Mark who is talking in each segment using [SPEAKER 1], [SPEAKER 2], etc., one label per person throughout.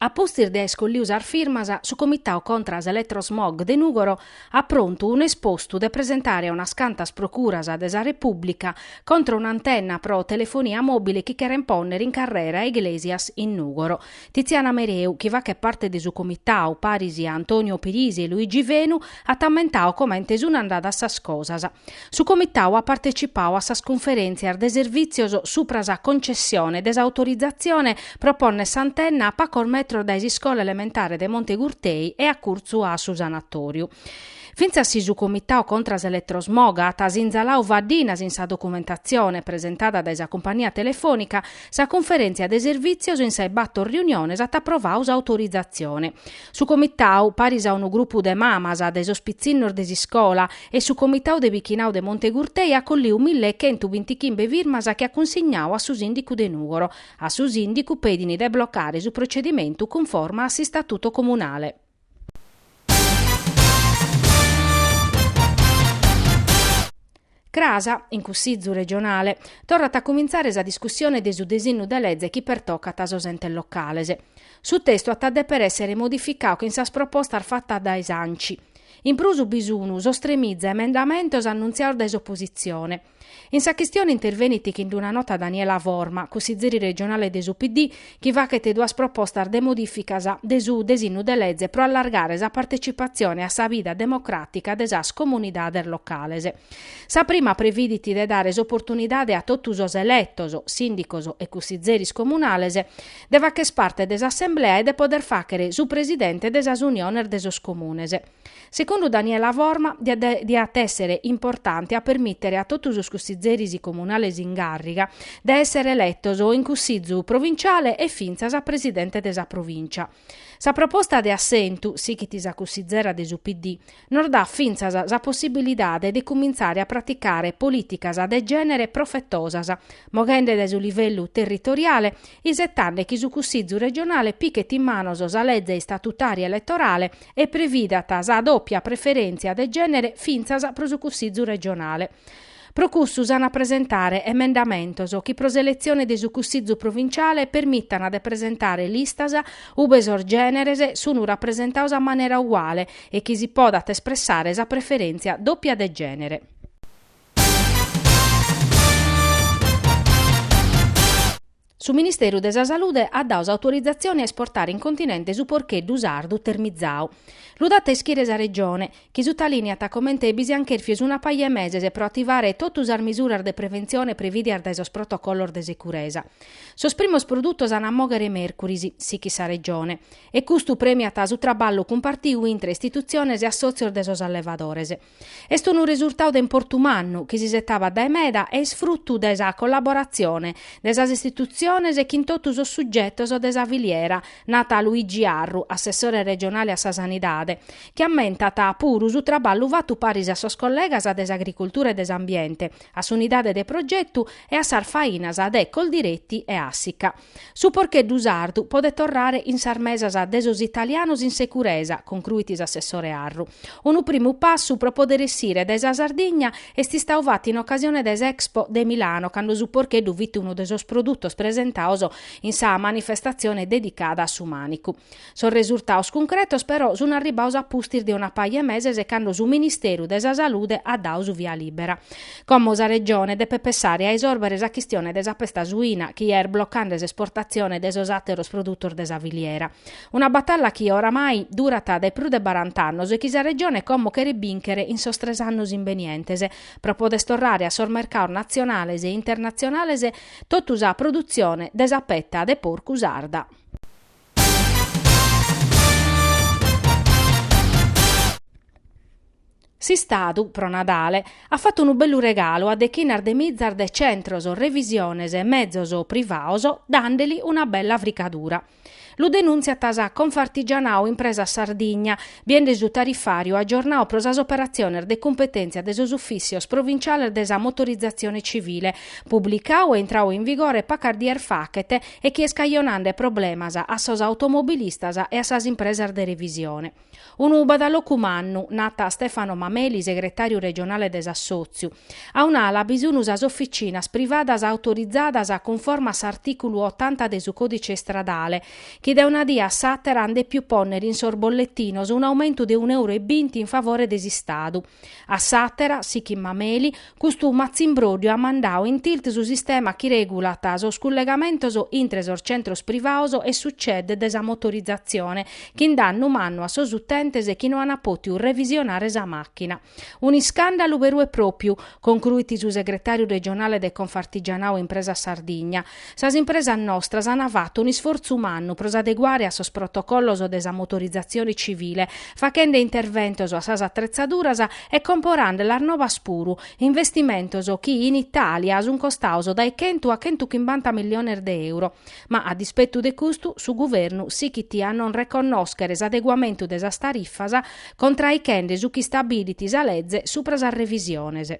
[SPEAKER 1] A pustis de aer colliu sas firmas, su Comitau contra s'Elettrosmog de Nùgoro at prontu un'espostu de presentare a unas cantas procuras de sa Repùblica contra un'antenna pro telefonia mòbile chi cheren pònnere in carrera Iglesias in Nùgoro. Tiziana Mereu, chi fachet parte de su Comitau, paris a Antonio Pirisi e Luigi Venu, at ammentau comente sun andadas sas cosas. Su Comitau at partecipau a sas cunferèntzias de servìtzios supra sa concessione de s'autorizatzione pro pònnere s'antenna a pacos metros dae s'iscola elementare de Monte Gurtei e acurtzu a su sanatòriu. Fintzas si su Comitau contra s'eletrosmog at sinzalau faddinas in sa documentatzione presentada dae sa cumpania telefònica, sa cunferèntzia de servìtzios in sas bator riuniones at aprovau s'autorizatzione. Su comitau, paris a unu grupu de mamas, de sos pitzinnos de s'iscola, e su comitau de bichinau de Monte Gurtei at colliu mille e chentu bintichimbe firmas chi at cunsignau a su sìndicu de Nùgoro. A su sìndicu petin de blocare su procedimentu cunforma a s'istatuto comunale. Cras, in Cussizu regionale, torrat a cumintzare sa discussione de su desinnu de leze chi pertocat sos entes locales. Su testu at a deper èssere modificau chin sas propostas fatas dae s'ANCI. In prus bi sun sos tremiza emendamentos annuntziaos dae s'opositzione. In sa chistione intervenit chin d'una nota Daniela Forma, cussizeri regionale de su PD, chi fachet duas propostas de modìficas de su desinnu de leze pro allargare sa partecipatzione a sa vida democràtica de sas comunidades locales. Sa prima previdit de dare s'oportunidade a totu sos eletos, sìndicos e cussizeris comunales, de facher parte de s'assemblea e de poder fàcher su presidente de sas uniones de sos comunes. Secundu Daniela Forma diat èssere importante a permìtere a totu sos cussizeris comunales in càrriga de èssere eletos in cussizu provinciale e fintzas presidente de sa provìncia. Sa proposta de assentu, sichit sa cussizera de su PD, nos dat fintzas sa possibilidade de cumintzare a praticare polìticas de gènere profetosas, moghende dae su livellu territoriale, isetande chi su cussizu regionale pichet in manos sa leze istatutària eletorale, e previdat sa dòpia preferèntzia de gènere fintzas pro su Cussizu regionale. Pro cussu s'an a presentare emendamentos chi pro s'eletzione de su Cussizu provinciale permitan de presentare listas ube sos gèneres sun rapresentaos a manera uguale e chi si podat espressare sa preferèntzia dòpia de gènere. Su Ministeru de sa Salude at dau s'autorizatzione a esportare in continente su porcheddu sardu termizau. Lu dat a ischire sa Regione, chi sutalìniat comente bi siant chèrfios una paja 'e meses pro ativare totu sas misuras de preventzione prevìdias dae sos protocollos de securesa. Sos primos produtos an a mòghere mèrcuris, sichit sa Regione. E custu prèmiat su traballu cumpartiu intre istitutziones e assòtzios de sos allevadores. Est unu resurtau de importu mannu, chi si isetavat dae meda e est frutu de sa collaboratzione de sas istitutziones chin totu sos sugetos de sa filiera, nat Luigi Arru, assessore regionale a sa Sanidade, chi ammentat puru su traballu fatu paris a sos collegas de s'Agricultura e de s'Ambiente, a s'Unidade de Progetu e a sas fainas de Coldiretti e Assica. Su porcheddu sardu podet torrare in sas mesas de sos italianos in securesa, concruit s'assessore Arru. Unu primu passu pro poder essire dae sa Sardigna est istau fatu in ocasione de s'Expo de Milano cando su porcheddu fit unu de sos produtos presentaos in sa manifestatzione dedicada a su mànicu. Sos resurtaos cuncretos però sun arribbaos a pustis de una paja 'e meses cando su Ministeru de sa Salude at dau su via lìbbera. Como sa Regione depet pessare a isòrbere sa chistione de sa pesta suina chi est blocande s'esportatzione de sos àteros produtos de sa filiera. Una batalla chi oramai durat dae prus de barant'annos e chi sa Regione como cheret bìnchere in sos tres annos imbenientes pro poder torrare a sos mercados natzionales e internatzionales totu sa produtzione de sa petta de porcu sarda. S'Istadu, pro Nadale, at fatu unu bellu regalu a deghinas de mizas de centros revisiones e mezos privaos, dande·li una bella fricadura. Lu denùntziat Confartigianao Impresas Sardigna, Biende su tarifàriu agiornau pro sas operatziones de cumpetèntzia de sos ufìssios provinciales de sa motorizatzione civile, publicau e intrau in vigore pacas dies fachet e chi est cajonande problemas a sos automobilistas e a sas impresas de revisione. Unu badalocu mannu, nat Stefano Mameli, segretàriu regionale de s'assòtziu. A un'ala bi sun sas oficinas privadas autorizadas cunforma a s'artìculu otanta de su Còdice Istradale, chi dae una die a s'àtera an dèpiu pònnere in sos bolletinos un'aumentu de un'euru e binti in favore de s'Istadu. A s'àtera, sichit Mameli, custu matzimbróddiu at mandadu in tilt su sistema chi regulat sos cullegamentos intre sos centros privados e su CED de sa motorizatzione, chin dannu mannu a sos utentes chi no an pòtiu revisionare sa màchina. Un'iscàndalu beru e pròpiu, concruit su segretàriu regionale de Confartigianau Impresas Sardigna. Sas impresas nostras ant fatu un'isfortzu mannu pro s'adeguare a sos protocollos de sa motorizatzione civile, faghende interventos a sas atretzaduras e comporandelas nobas puru, investimentos chi in Itàlia sunt costados dae chentu a chentuchimbanta milliones de euro. Ma a dispetu de custu, su Guvernu sighit a non reconnòschere s'adeguamentu de sas tarifas, contraichende su chi istabilit sa lege subra sas revisiones.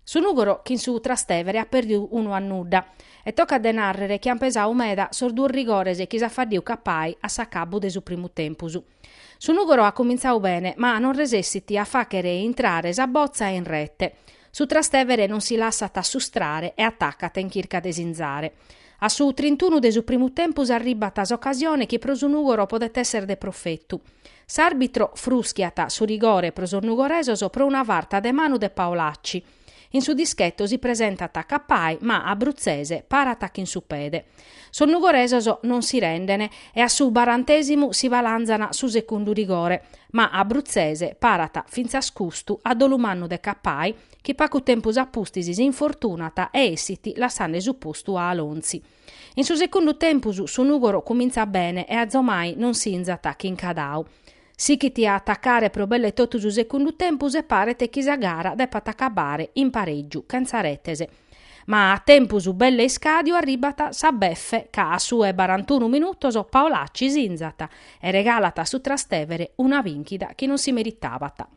[SPEAKER 1] Su Nùgoro chin su Trastevere at pèrdidu unu a nudda e tocat de nàrrere chi ant pesadu meda sos duos rigores chi s'at faddidu Cappai a s'acabbu de su primu tempus. Su Nùgoro at cumintzadu bene, ma non resessit a fàghere intrare sa botza in rete. Su Trastevere non si lassat assustrare e atacat in chirca de sinzare. A su trintunu de su primu tempus arribbat s'ocasione chi pro su Nùgoro podet èssere de profetu. S'àrbitro frùschiat su rigore pro sos nugoresos pro una farta de manu de Paolacci. In su dischetto si presentat Cappai, ma Apruzzese parat chin su pede. Sos nugoresos non si renden e a su barantesimu si balanzan su secundu rigore, ma Apruzzese parat fintzas custu a dolu mannu de Cappai chi pagu tempus a pustis si infortunat e essit lassende su postu a Alonzi. In su secundu tempus su Nùgoro cumintzat bene e azomai non sinzat chin Cadau. Sighit a atacare pro belle totu su segundu tempus e paret chi sa gara depat acabare in parègiu chentza retes. Ma a tempus belle iscàdiu arribat sa befe ca a su 'e barantunu minutos Paolacci sinzat e regalat a su Trastevere una bìnchida chi non si meritabat.